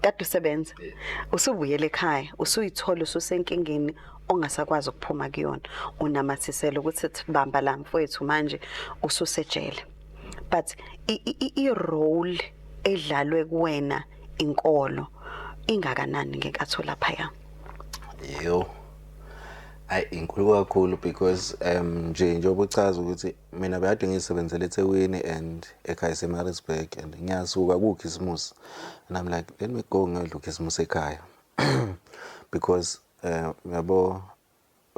kade usebenza usubuyele ekhaya usuyithola ususenkingeni ongasakwazi ukuphuma kuyona unamathisela ukuthi bamba la mfowethu manje ususejele but i role edlalwe kuwena inkolo ingakanani ngenkathi olaphaya yo ayi inkulu kakhulu because um nje njengoba uchaza ukuthi Mina bekade ngiyisebenzela eThekwini and ekhaya iseMaritzburg and ngiyasuka kukhisimusi and I'm like let me go ngiyodla ukhisimusi ekhaya because eh, yabo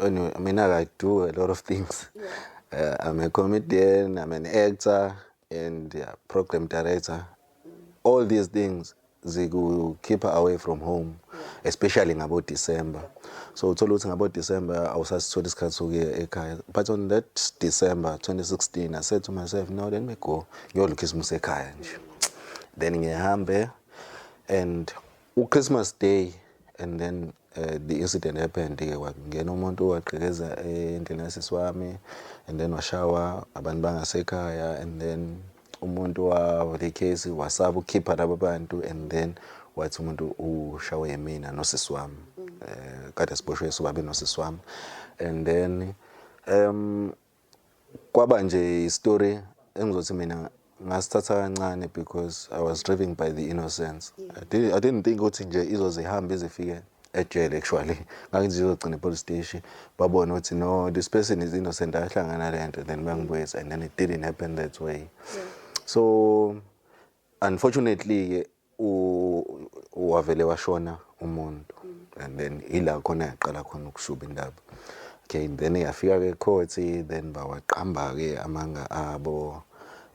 anyway, I mean I do a lot of things uh, I'm a comedian I'm an actor and yeah, program director all these things zikukhipha away from home especially ngabo December so uthola ukuthi ngabo December awusasitholi isikhathi sokuya ekhaya but on that December 2016 I said to myself no let me go ngiyodla Christmas ekhaya nje then ngihambe and u Christmas day and then uh, the incident happened ke kwangena umuntu waqhekeza endlini yasisi wami and then washawa abantu bangasekhaya and then umuntu wavula ikhesi wasaba ukukhipha laba bantu and then wathi umuntu ushawe yimina nosisi wami um eh, kade siboshwe sobabe nosisi wami and then um kwaba nje istory engizothi mina ngasithatha kancane because i was driven by the innocence I, did, i didn't think ukuthi nje izoze ihambe izifike ejele actually ngangizizogcina epolice station babone ukuthi no this person is innocent ahlangana le nto then bangibuyisa and then it didn't happen that way yeah. so unfortunately-ke wavele washona umuntu and then ila khona yaqala khona ukushuba indaba okay then yafika ke court then bawaqamba ke amanga abo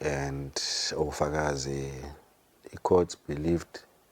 and ofakazi i court believed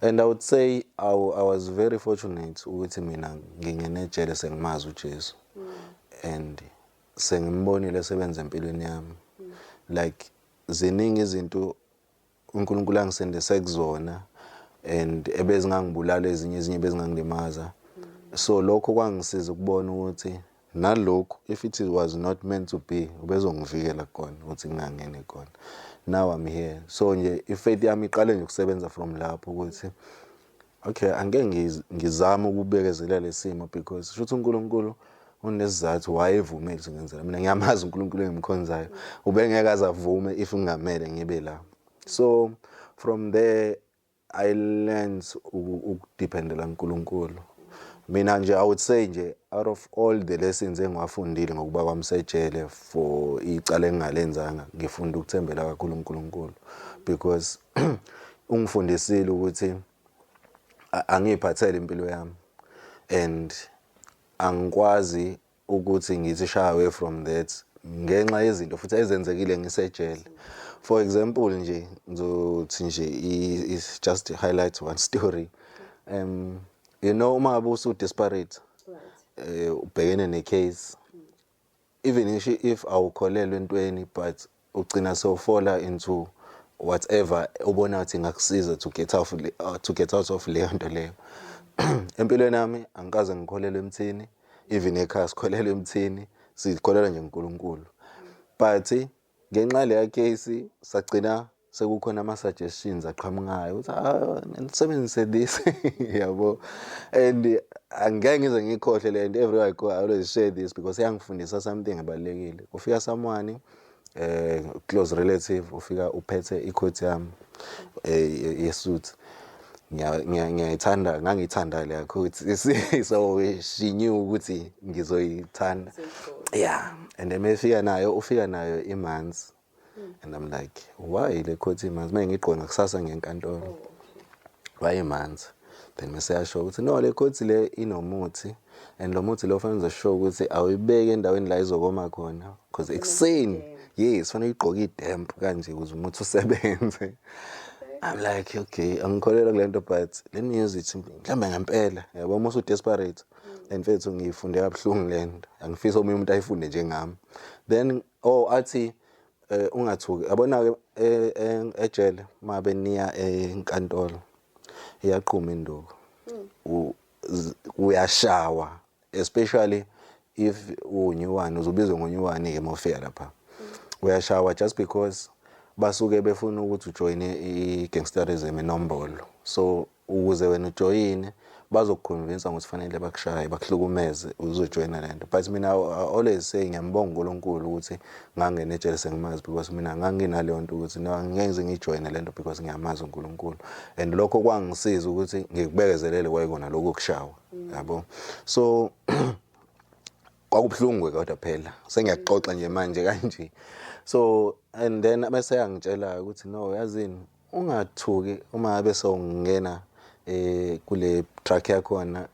And I would say I, I was very fortunate ukuthi mina ngingene ejele sengimazi uJesu and sengimbonile esebenza empilweni yami like ziningi izinto uNkulunkulu angisindise kuzona and ebezingangibulala ezinye ezinye bezingangilimaza so lokho kwangisiza ukubona ukuthi Nalokhu if it was not meant to be ubezongivikela kona ukuthi ngingangeni kona. Now I'm here. So nje ifaith yami iqale nje ukusebenza from lapho ukuthi okay angeke ngizame ukubekezelela lesimo because shuthi uNkulunkulu unesizathu wayevumile ukuthi ngenzela mina ngiyamazi uNkulunkulu engimkhonzayo ubengeke azavume if ngingamele ngibe la so from there I learnt ukudependela kuNkulunkulu. Mina nje I would say nje out of all the lessons engiwafundile ngokuba kwami sejele for icala engingalenzanga ngifunda ukuthembela kakhulu uNkulunkulu because ungifundisile ukuthi angiyiphathele impilo yami and angikwazi ukuthi ngithi shy away from that ngenxa yezinto futhi ezenzekile ngisejele for example nje ngizothi nje is just highlight one story um you know uma busu disparate eh ubhekene ne case even if awukholelwa entweni but Ugcina sewufola into whatever obona ngathi ingakusiza to get out, uh, to get out of leyo nto leyo. Empilweni yami angikaze ngikholelwe emthini, even ekhaya sikholelwe emthini, sikholelwa nje uNkulunkulu. But ngenxa leya case sagcina sekukhona ama-suggestions aqhamukayo ukuthi ah, nisebenzise this yabo and angeke ngize ngiyikhohle le nto everywhere i go i always share this because iyangifundisa something ebalulekile kufika someone eh close relative ufika uphethe icoat yami eh yesuthi ngiyayithanda ngangiyithanda leya coat so she knew ukuthi ngizoyithanda yeah and then mefika nayo ufika nayo imanzi hmm. and i'm like why le coat imanzi mengigqona kusasa ngenkantolo oh, wayemanzi then mese yasho ukuthi no le court le inomuthi and lo muthi lo fanele ngize show ukuthi awuyibeki endaweni la izokoma khona because ekuseni yes fanele uyigqoke idemp kanje ukuze umuthi usebenze I'm like okay angikholelwa kulento but let me use it mhlawumbe ngempela yabo uma usu desperate and mfethu ngiyifunde kabuhlungu lento angifisa omunye umuntu ayifunde njengami then oh athi eh ungathuki yabona ke eh, eh, ejele uma beniya enkantolo iyaqhuma induku uyashawa especially if unyuwani uzobizwa ngonyuwani ke mofika lapha uyashawa just because basuke befuna ukuthi ujoyine i-gangsterism inombolo so ukuze wena ujoyine bazokuconvinsa ukuthi fanele bakushaye bakuhlukumeze uzojoyina le nto but mina always say ngiyambonga unkulunkulu ukuthi ngangena ejele sengimazi because mina nganginaleyo nto ukuthi ngize ngijoyine le nto because ngiyamazi unkulunkulu and lokho kwangisiza ukuthi ngikubekezelele kwayikona lokho kushawa yabo so kwakubuhlungu kodwa phela sengiyaxoxa nje manje kanje so and then bese yangitshela ukuthi no yazini Ungathuki uma ngabe sewungena kule truck yakhona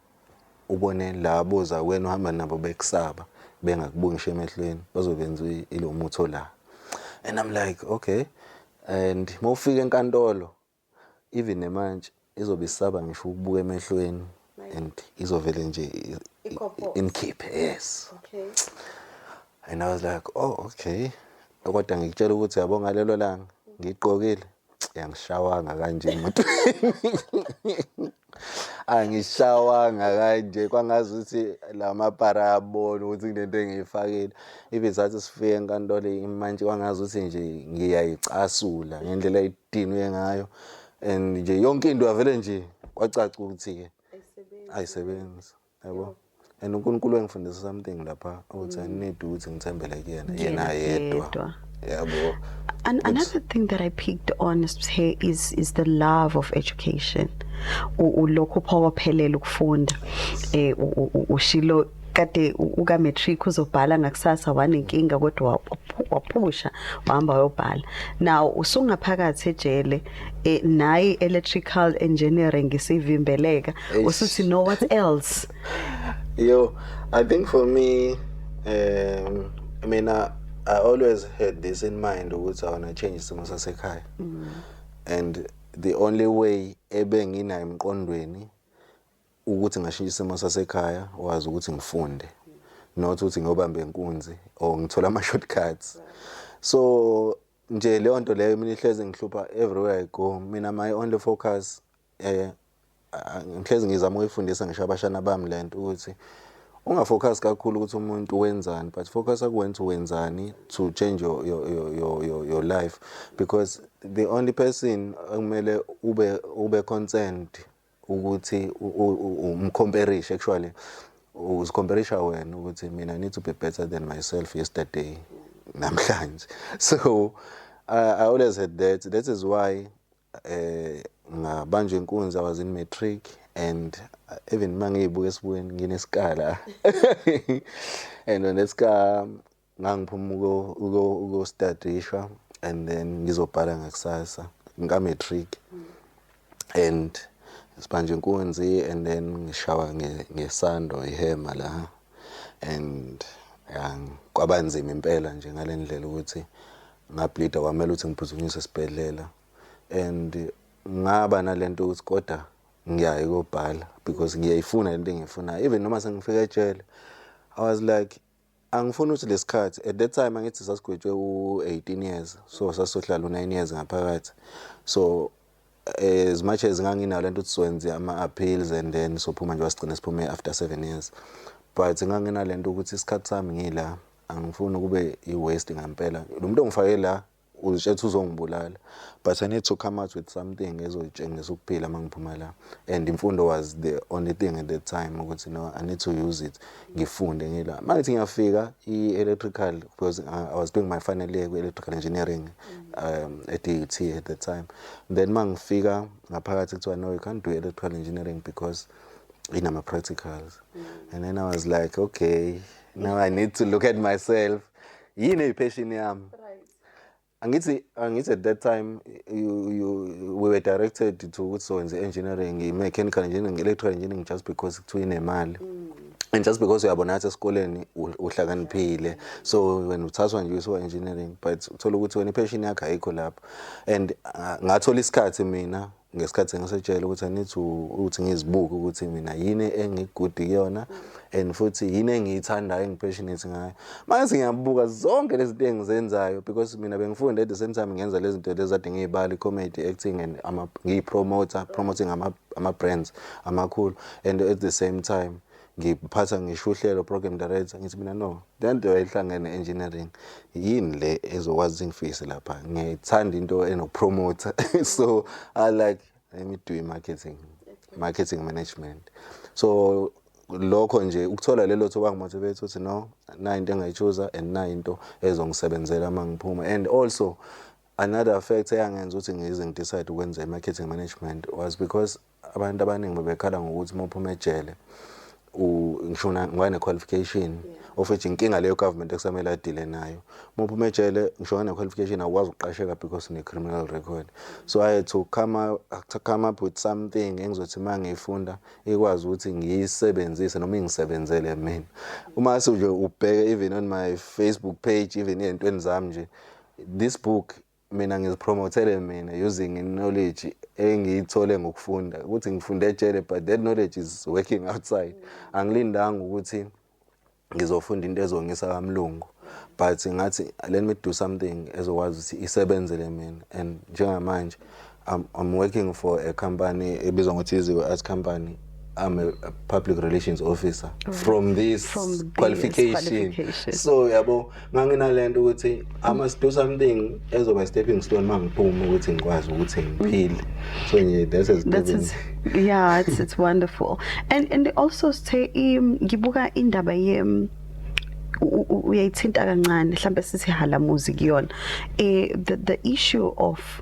ubone laba boza kuwena uhamba nabo bekusaba bengakubuki ngisho emehlweni bazobenza ilomuthi ola and I'm like okay and mawufika enkantolo even nemantshi Izobe isaba ngisho ukubuka emehlweni and izovele nje inkhiphe yes. Okay. And I was like, oh okay. Kodwa ngikutshela ukuthi yabo ngalelo langa ngigqokile yangishawanga kanje imoto. angishawanga kanje kwangazi ukuthi la mapara ayabona ukuthi kunento engiyifakile ibe zathi sifike enkantolo imantshi kwangazi ukuthi nje ngiyayicasula ngendlela dinwe ngayo and nje yonke into yavele nje kwacaca ukuthi-ke ayisebenzi yabo and unkulunkulu engifundisa something lapha ukuthi i need ukuthi ngithembele kuyena yena yedwa yabo And another thing that I picked on is is, is the love of education. Ulokhu phawaphelele ukufunda eh ushilo kade uka matric uzobhala ngakusasa wanenkinga kodwa waphusha wahamba wayobhala now usungaphakathi ejele eh, nayi electrical engineering isivimbeleka usuthi no what else yo i think for me um mina i always had this in mind ukuthi i want to change isimo sasekhaya mm. and the only way ebenginayo emqondweni ukuthi ngashintsha isimo sasekhaya wazi ukuthi ngifunde not ukuthi ngiyobamba inkunzi or ngithola ama shortcuts so nje leyo nto leyo mina ihlezi ngihlupha everywhere i go mina my only focus eh ngihlezi ngizama ukuyifundisa ngisho abashana bami lento ukuthi ungafocus kakhulu ukuthi umuntu wenzani but focus akuwenza wenzani to change your, your, your, your, your life because the only person okumele ube ube concerned ukuthi umcomperishe actually uzicomperisha wena ukuthi mina need to be better than myself yesterday namhlanje so I, I always had that that is why eh ngabanjwa inkunzi I was in matric and uh, even mangiyibuka esibukweni nginesikala and when esika Ngangiphuma ukostadisha and then ngizobhala ngakusasa ngika-matric and sibanje inkunzi and then ngishawa ngesando ihema la and kwaba nzima impela nje ngale ndlela ukuthi ngablida kwamele ukuthi ngiphuthunyiswe esibhedlela and ngaba nalento ukuthi kodwa ngiyaye kobhala because ngiyayifuna lento engiyifunayo even noma sengifika ejele i was like Angifuni ukuthi lesikhathi at that time angithi sasigwetshwe u18 years so sasohlala u9 years ngaphakathi so eh, as much as nganginalo lento ukuthi siwenze ama appeals and then sophuma nje wasigcina siphume after 7 years but nganginalento ukuthi isikhathi sami ngila angifuni kube i waste ngempela lo muntu ongifake la uzitshela ukuthi uzongibulala but i need to come out with something ezoyitshengisa ukuphila uma ngiphuma la and imfundo was the only thing at that time ukuthi no i need to use it ngifunde ngila uma ngithi ngiyafika i-electrical because uh, i was doing my final year kwi-electrical engineering um, at DUT e at that time then uma ngifika ngaphakathi kuthiwa no you can't do electrical engineering because inama-practicals mm. and then i was like okay now i need to look at myself yini eyipheshini yami angithi angithi at that time you, you we were directed to ukuthi sowenze engineering mechanical engineering electrical engineering just because kuthiwa inemali mm. and just because uyabona ngathi esikoleni uhlakaniphile so wena uthathwa nje usuka engineering but uthola ukuthi wena ipassion yakho ayikho lapho and uh, ngathola isikhathi mina ngesikhathi ngisetshela ukuthi angithi ukuthi ngizibuke ukuthi mina yini engigudi kuyona and futhi yini engiyithandayo engipassionate ngayo manje ngiyabuka zonke lezi zinto engizenzayo because mina bengifunde at the same time ngenza lezi zinto lezi ade ngiyibali comedy acting and ama ngiyipromoter promoting ama ama brands amakhulu and at the same time ngiphatha ngisho uhlelo program director ngithi mina no lento ehlangene engineering yini le ezokwazi ngifikise lapha ngithanda into enokupromoter so i like let me do marketing marketing management so lokho nje ukuthola lelo thuba ngimotivate ukuthi no na into engayichuza and na into ezongisebenzela uma ngiphuma and also another fact eyangenza ukuthi ngize ngidecide ukwenza i-marketing management was because Abantu abaningi bebekhala ngokuthi uma uphuma ejele ngisho ngoba ne-qualification of which inkinga leyo government ekusamele adile nayo uma uphuma ejele ngisho ngane-qualification awukwazi ukuqasheka because ne-criminal record so i had to come, to come up with something engizothi uma ngiyifunda ikwazi ukuthi ngiyisebenzise noma ingisebenzele mina uma sewuje ubheke even on my facebook page even ey'ntweni zami nje this book mina ngizipromothele mina using knowledge engiyithole ngokufunda ukuthi ngifunde ejele but that knowledge is working outside angilindanga ukuthi ngizofunda into ezongisa kamlungu but ngathi let me do something ezokwazi ukuthi isebenzele mina and njengamanje I'm, I'm working for a company ebizwa ngokuthi iziko as company I'm a, a public relations officer right. from this from this qualification. qualification so yabo nganginalento ukuthi I must do something ezoba stepping stone mangiphuma ukuthi ngikwazi ukuthi ngiphile so nje this is that is yeah it's it's wonderful and and also say um, ngibuka indaba ye um, uyayithinta kancane mhlambe sithi halamuzi kuyona eh the, the issue of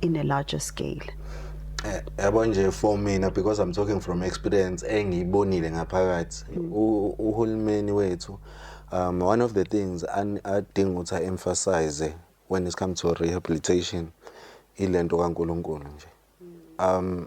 in a larger scale eh, yabo nje for mina because i'm talking from experience engiyibonile ngaphakathi mm. uhulumeni wethu um one of the things adinga ukuthi aemphasize when it comes to rehabilitation ilento kaNkuluNkulu nje um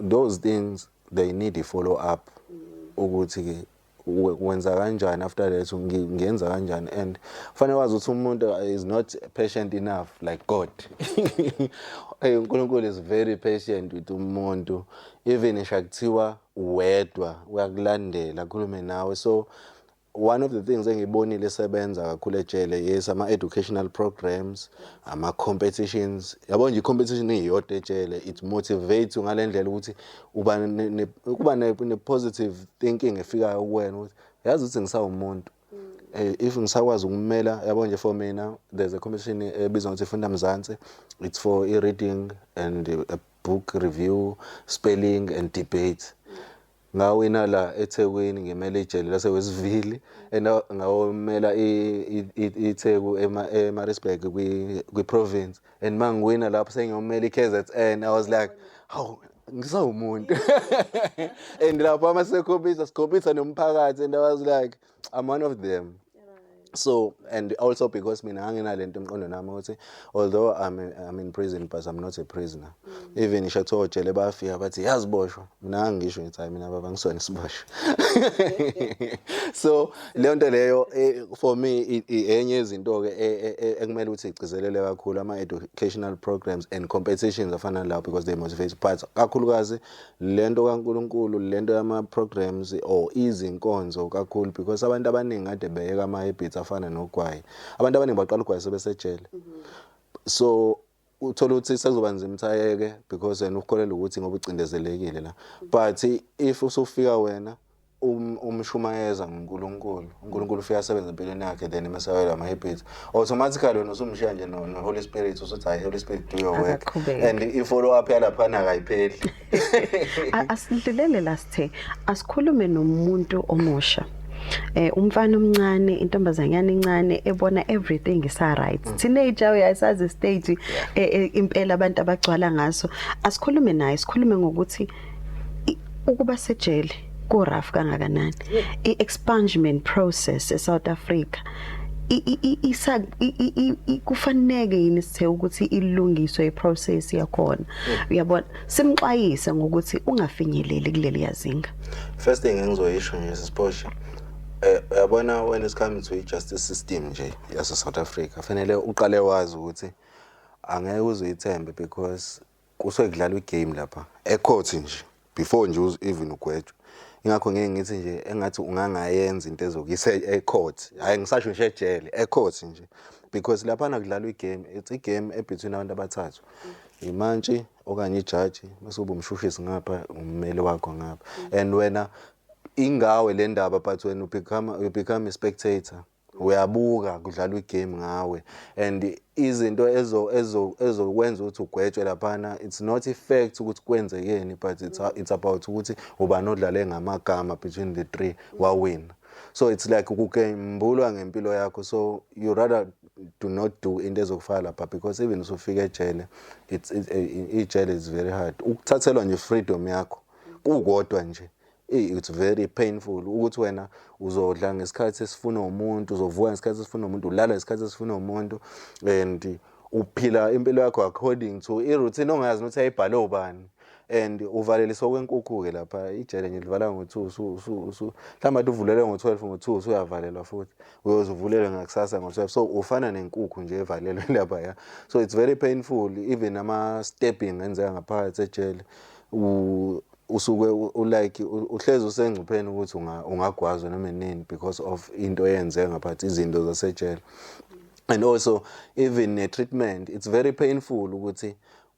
Those things they need a follow up ukuthi ke wenza kanjani after that ngenza kanjani and kufanele wazi ukuthi umuntu is not patient enough like God hey uNkulunkulu is very patient with umuntu even isha kuthiwa wedwa uyakulandela khulume nawe so One of the things engiyibonile esebenza kakhulu ejele yes ama educational programs ama competitions yabo nje competition iyodwa ejele it motivates ngalendlela ukuthi uba ne kuba ne positive thinking efikayo kuwena ukuthi yazi ukuthi ngisawumuntu eh, if ngisakwazi ukumela yabo nje for mina there's a competition ebizwa ukuthi funda mzansi it's for i reading and a book review spelling and debate Ngawina la eThekwini ngimele ijele laseWestville and ngawomela iTheku eMaritzburg kwi-province and uma ngiwina lapho sengiyomela i-KZN I was like hawu ngisawumuntu and lapho uma sikhombisa sikhombisa nomphakathi and I was like I'm one of them so and also because mina nganginalento emqondo nami ukuthi although I'm, I'm in prison but I'm not a prisoner mm. even ngisho kuthiwa ojele bayafika bathi yaziboshwa mina ngangisho ngithi hayi mina baba ngisona isiboshwa so leyo nto leyo eh, for me enye izinto-ke e, e, e, ekumele ukuthi igcizelele kakhulu ama-educational programs and competitions afana lawo because they motivate but kakhulukazi lento kaNkulunkulu lento yama programs or izinkonzo kakhulu because abantu abaningi kade beyeka ama habits afana nogwayi abantu abaningi baqala ugwayi sebesejele so uthola ukuthi sekuzoba nzima ukuthi ayeke because yena ukholelwa ukuthi ngoba ucindezelekile la but if usufika wena um, umshumayeza nguNkulunkulu uNkulunkulu ufika asebenza empilweni yakhe then emesabela ama habits automatically wena usumshiya nje no, no Holy Spirit usuthi hayi Holy Spirit do your work Akaqhubeki. and i follow up yalaphana akayipheli A- asidlulele la sithe asikhulume nomuntu omusha eh umfana omncane intombazanyana incane ebona everything is right teenager uyasazi stage eh, eh, impela abantu abagcwala ngaso asikhulume naye sikhulume ngokuthi ukuba sejele ku rough kangakanani i expungement process e South Africa isa kufaneke yini sithe ukuthi ilungiswe iprocess yakhona uyabona simxwayise ngokuthi ungafinyeleli kuleli yazinga first thing engizoyisho nje sisiphoshe eh uyabona when it comes to justice system nje yase South Africa fanele uqale wazi ukuthi angeke uzoyithembe because Kusuke kudlalwa igame lapha ekhothi nje before nje even ugwetshwa ingakho ngeke ngithi nje engathi ungangayenza into ezokuyisa ecourt hhayi ngisasho nje ejele ecourt nje because laphana kudlalwa igame it's igame ebetween abantu abathathu imantshi okanye ijaji bese uba umshushisi ngapha ummeli wakho ngapha and wena ingawe le ndaba but wena ubecome, you become a spectator Uyabuka kudlalwa igame ngawe and izinto ezo ezo ezokwenza ukuthi ugwetshwe laphana it's not a fact ukuthi kwenzekeni but it's, it's about ukuthi ubani odlale ngamagama between the three wawina so it's like ukugembulwa ngempilo yakho so you rather do not do into ezokufaka lapha because even usufika ejele it's ijele is very hard ukuthathelwa nje freedom yakho kukodwa nje It's very painful ukuthi wena uzodla ngesikhathi esifuna umuntu, uzovuka ngesikhathi esifuna umuntu, ulala ngesikhathi esifuna umuntu and uphila impilo yakho according to i-routine ongayazi ukuthi ayibhale ubani and uvalelisa okwenkukhu-ke lapha ijele nje livala ngo-two mhlawumbe ade uvulele ngo-twelve ngo-two usuyavalelwa futhi uyoze uvulelwe ngakusasa ngo-twelve so ufana nenkukhu nje evalelwe lapha ya so it's very painful even ama-stepping enzeka ngaphakathi ejele usuke ulike uhlezi usengcupheni ukuthi ungagwazwa noma nini because of into eyenze ngaphathi izinto zasejele and also even ne treatment it's very painful ukuthi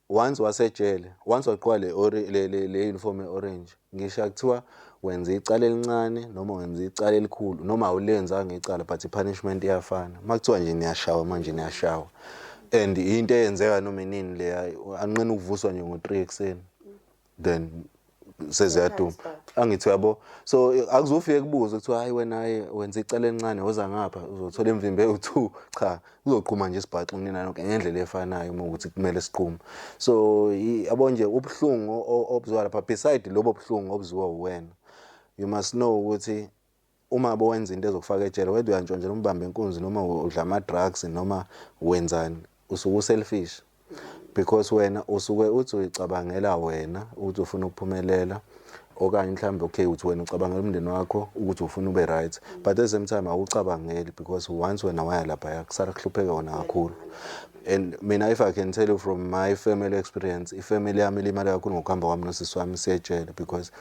once wasejele once waqwa le le le, le uniform eorange ngisho kuthiwa wenza icala elincane noma wenza icala elikhulu noma awulenzanga icala but ipunishment iyafana makuthiwa nje niyashawa manje niyashawa and into eyenzeka noma inini leya anqina ukuvuswa nje ngo-3 ekuseni then seziyaduma angithi uyabo so akuzofike kubuze kuthiwa hayi wena hayi wenza icala elincane woza ngapha uzothola imvimbe ewu-two cha kuzoqhuma nje isibhaxi kunina nonke ngendlela efanayo uma ukuthi kumele siqhume so yabo nje ubuhlungu obuzwa lapha beside lobo buhlungu obuzwiwa uwena you must know ukuthi Uma bowenza into ezokufaka ejele whether uyantshontshela umbambe inkunzi noma udla ama drugs noma wenzani usuke u selfish because wena usuke uthi uyicabangela wena ukuthi ufuna ukuphumelela okanye mhlawumbe okay uthi wena ucabangela umndeni wakho ukuthi ufuna ube right but at the same time awucabangeli because once wena waya lapha yakusala kuhlupheke wona kakhulu and mina if i can tell you from my family experience ifamily yami ilimale kakhulu ngokuhamba kwami nosisi wami siyejele because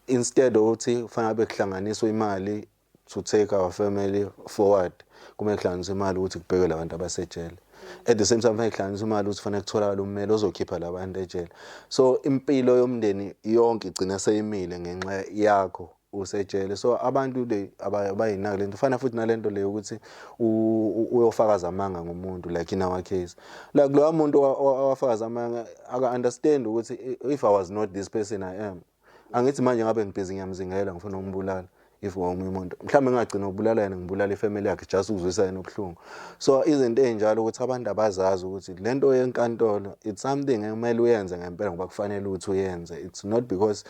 Instead othi kufanele abe kuhlanganiswa imali to take our family forward kumele kuhlanganiswe imali ukuthi kubhekwe labantu abasejele at the same time kufanele kuhlanganiswe imali ukuthi kufanele kutholakala ummeli ozokhipha labantu ejele so impilo yomndeni yonke igcina seyimile ngenxa yakho usejele so abantu they abayinaki lento fana futhi nalento leyo ukuthi uyofakaza amanga ngomuntu like in our case like loya muntu owafakaza amanga aka understand ukuthi if i was not this person i am angithi manje ngabe ngibhizi ngiyamzingela ngifuna ukumbulala if ngomunye umuntu mhlawumbe ngingagcina ukubulala yena ngibulala ifamily yakhe just ukuzwisa yena ubuhlungu so izinto ezinjalo ukuthi abantu abazazi ukuthi le nto yenkantolo it's something ekumele uyenze ngempela ngoba kufanele ukuthi uyenze it's not because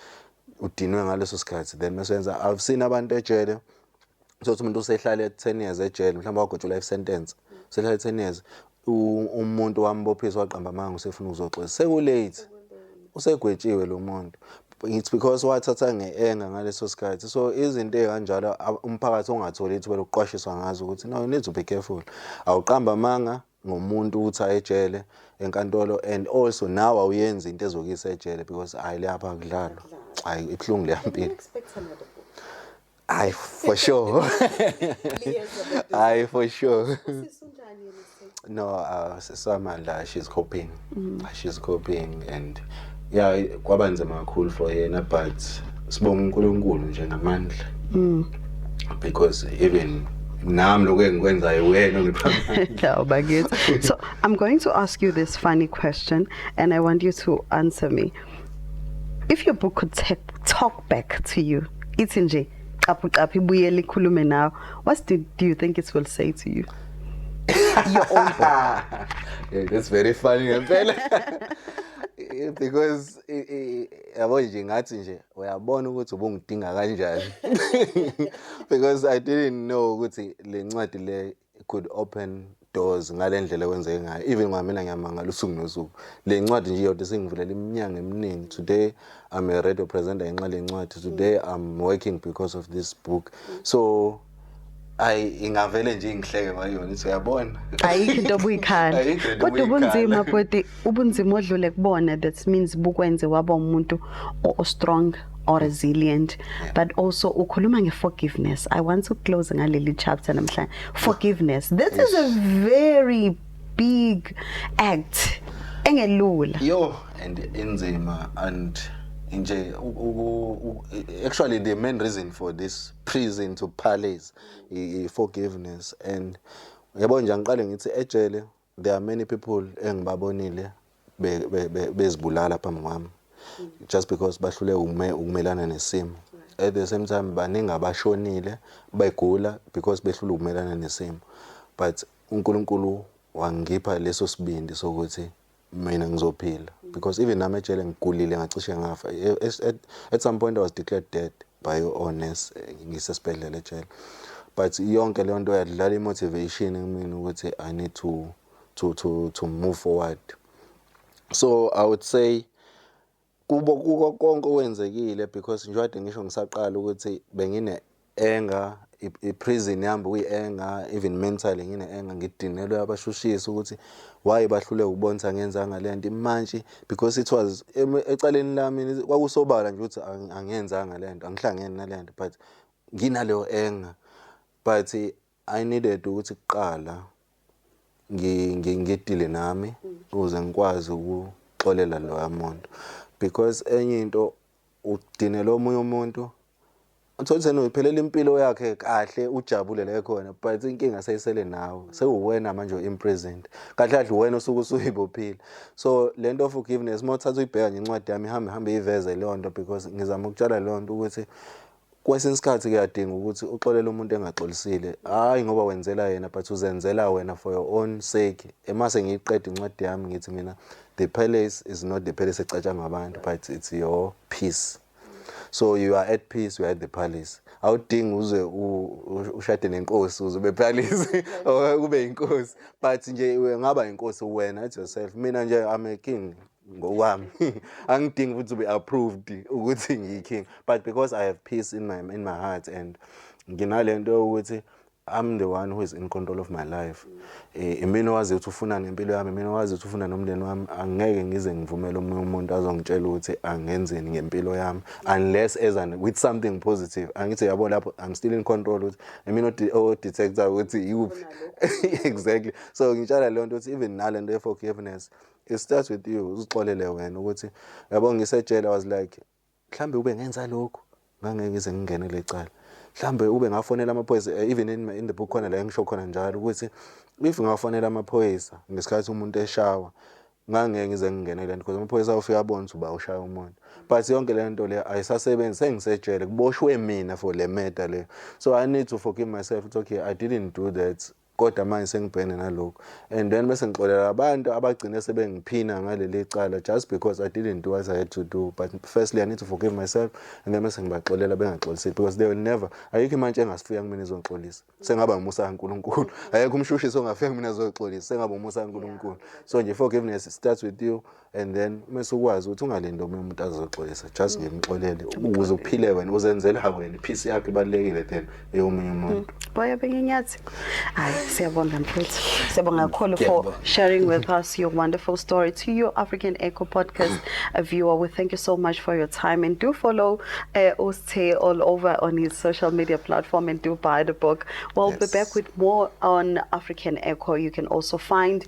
udinwe ngaleso sikhathi then mesenza i've seen abantu ejele sothi umuntu usehlale 10 years ejele mhlawumbe wagotsha life sentence usehlale 10 years u- umuntu wambophisa waqamba amanga usefuna ukuzoxolisa sekulate usegwetshiwe lo muntu it's because wathatha nge-enga ngaleso sikhathi so izinto ey'kanjalo a- umphakathi ongatholi ithuba lokuqwashiswa ngazo ukuthi no you need to be careful awuqamba amanga ngomuntu ukuthi aye ejele enkantolo and also nawe awuyenzi into ezokuyisa ejele because hayi leyapha akudlalwa hayi ibuhlungu leyampilo hayi for sure hayi for sure no uh, sisamandla she's coping mm. she's coping and yeah kwaba nzima kakhulu for yena but sibonga uNkulunkulu nje namandla mm. because even nami lokho engikwenzayo wena ngiphamela ubakithi so i'm going to ask you this funny question and i want you to answer me if your book could talk back to you ithi nje qaphu qaphu ibuyele ikhulume nawe what do, do you think it will say to you your own book yeah, that's very funny ngempela because yabo nje ngathi nje uyabona ukuthi ubungidinga kanjani because i didn't know ukuthi le ncwadi le It could open doors ngale ndlela kwenzeke ngayo even kwamina ngiyamangala usuku nosuku le ncwadi nje yodwa isingivulela iminyango eminingi today i'm a radio presenter ngenxa le ncwadi today i'm working because of this book so ayi ingavele nje ingihleke ngayona ithi uyabona ayikho into obuyikhala kodwa ubunzima bhuti ubunzima odlule kubona that means bukwenze waba umuntu o strong or resilient yeah. but also ukhuluma ngeforgiveness i want to close ngaleli chapter namhlanje forgiveness this yes. is a very big act engelula yo and inzima and nje actually the main reason for this prison to palace i forgiveness and yabo nje angiqale ngithi ejele There are many people engibabonile bezibulala phambi kwami just because bahlule ukumelana nesimo. At the same time baningi abashonile begula because behlule ukumelana nesimo. But uNkulunkulu wangipha leso sibindi sokuthi mina ngizophila because even nami ejele ngigulile ngacishe ngafa at some point I was declared dead by honest ngisesibhedlela ejele but yonke leyo nto yadlala i-motivation kumina ukuthi i need to, to, to, to move forward so i would say kubo kuko konke okwenzekile because njengoba ngisho ngisaqala ukuthi bengine-anger iprison yami kuyi-anger even mentally ngine-anger ngidinelwe abashushisi ukuthi why bahlule ukubonisa ngenzanga le nto imantshi because it was ecaleni lami kwakusobala nje ukuthi angiyenzanga le nto angihlangene nale nto but nginaleyo anger but i needed ukuthi kuqala ngidile nami ukuze ngikwazi ukuxolela loya muntu because enye into udinela omunye umuntu Uthole ukuthi yena uyiphelela impilo yakhe kahle ujabule la ekhona but inkinga seyisele nawe mm. sewuwena manje imprisoned kahle kahle uwena osuke usuyibophile so le nto forgiveness uma uthatha uyibheka nje incwadi yami ihambe ihambe iveze leyo nto because ngizama ukutshala leyo nto ukuthi kwesinye isikhathi kuyadinga ukuthi uxolele umuntu engaxolisile hhayi ngoba wenzela yena but uzenzela wena for your own sake emase ngiyiqeda incwadi yami ngithi mina the palace is not the palace ecatshangwa abantu but it's your peace so you are at peace you are at the palace awudingi uze ushade nenkosi uze ube palace or ube inkosi but nje ngaba inkosi wena at yourself mina nje i'm a king ngokwami angidingi ukuthi ube approved ukuthi ngiyi king but because i have peace in my in my heart and nginalento ukuthi I'm the one who is in control of my life. Eh, imina owazi ukuthi ufuna ngempilo yami, imina owazi ukuthi ufuna nomndeni wami. Angeke ngize ngivumele omunye umuntu azongitshela ukuthi angenzeni ngempilo yami unless as an with something positive. Angithi yabo lapho I'm still in control ukuthi imina o detector ukuthi yikuphi. Exactly. So ngitshala le nto ukuthi even nalento ye forgiveness it starts with you uzixolele wena ukuthi yabo ngisejele was like Mhlawumbe ukube ngenza lokhu ngangeke ngize ngingene kule cala. Mhlawumbe ukube ngafonela amaphoyisa eh, even in, in the book khona la engisho khona njalo ukuthi if ngafonela amaphoyisa ngesikhathi umuntu eshawa ngangeke ngize ngingene kule nto because amaphoyisa ofika abone ukuthi uba ushaya umuntu but yonke le nto leyo ayisasebenzi sengisetshele kuboshwe mina for le murder leyo so i need to forgive myself it's okay i didn't do that Kodwa manje sengibhekene nalokhu and then bese ngixolela abantu abagcine sebengiphina ngaleli cala just because I didn't do what I had to do but firstly I need to forgive myself and then bese ngibaxolela bengaxolisi because they will never ayikho imantshi engasifuya kumina izongixolisa sengaba umusa kaNkulunkulu ayekho umshushisi ongafika kumina azoxolisa sengaba umusa kaNkulunkulu so nje forgiveness starts with you and then uma sukwazi ukuthi ungalindi omunye umuntu azoxolisa just nje mxolele ukuze uphile wena uzenzela wena iphisi yakho ibalekile then eyomunye umuntu mm. boya benginyathi hayi siyabonga mfethu siyabonga kakhulu for sharing with us your wonderful story to your African Echo podcast a viewer we thank you so much for your time and do follow uh, eh, Uste all over on his social media platform and do buy the book we'll yes. be back with more on African Echo you can also find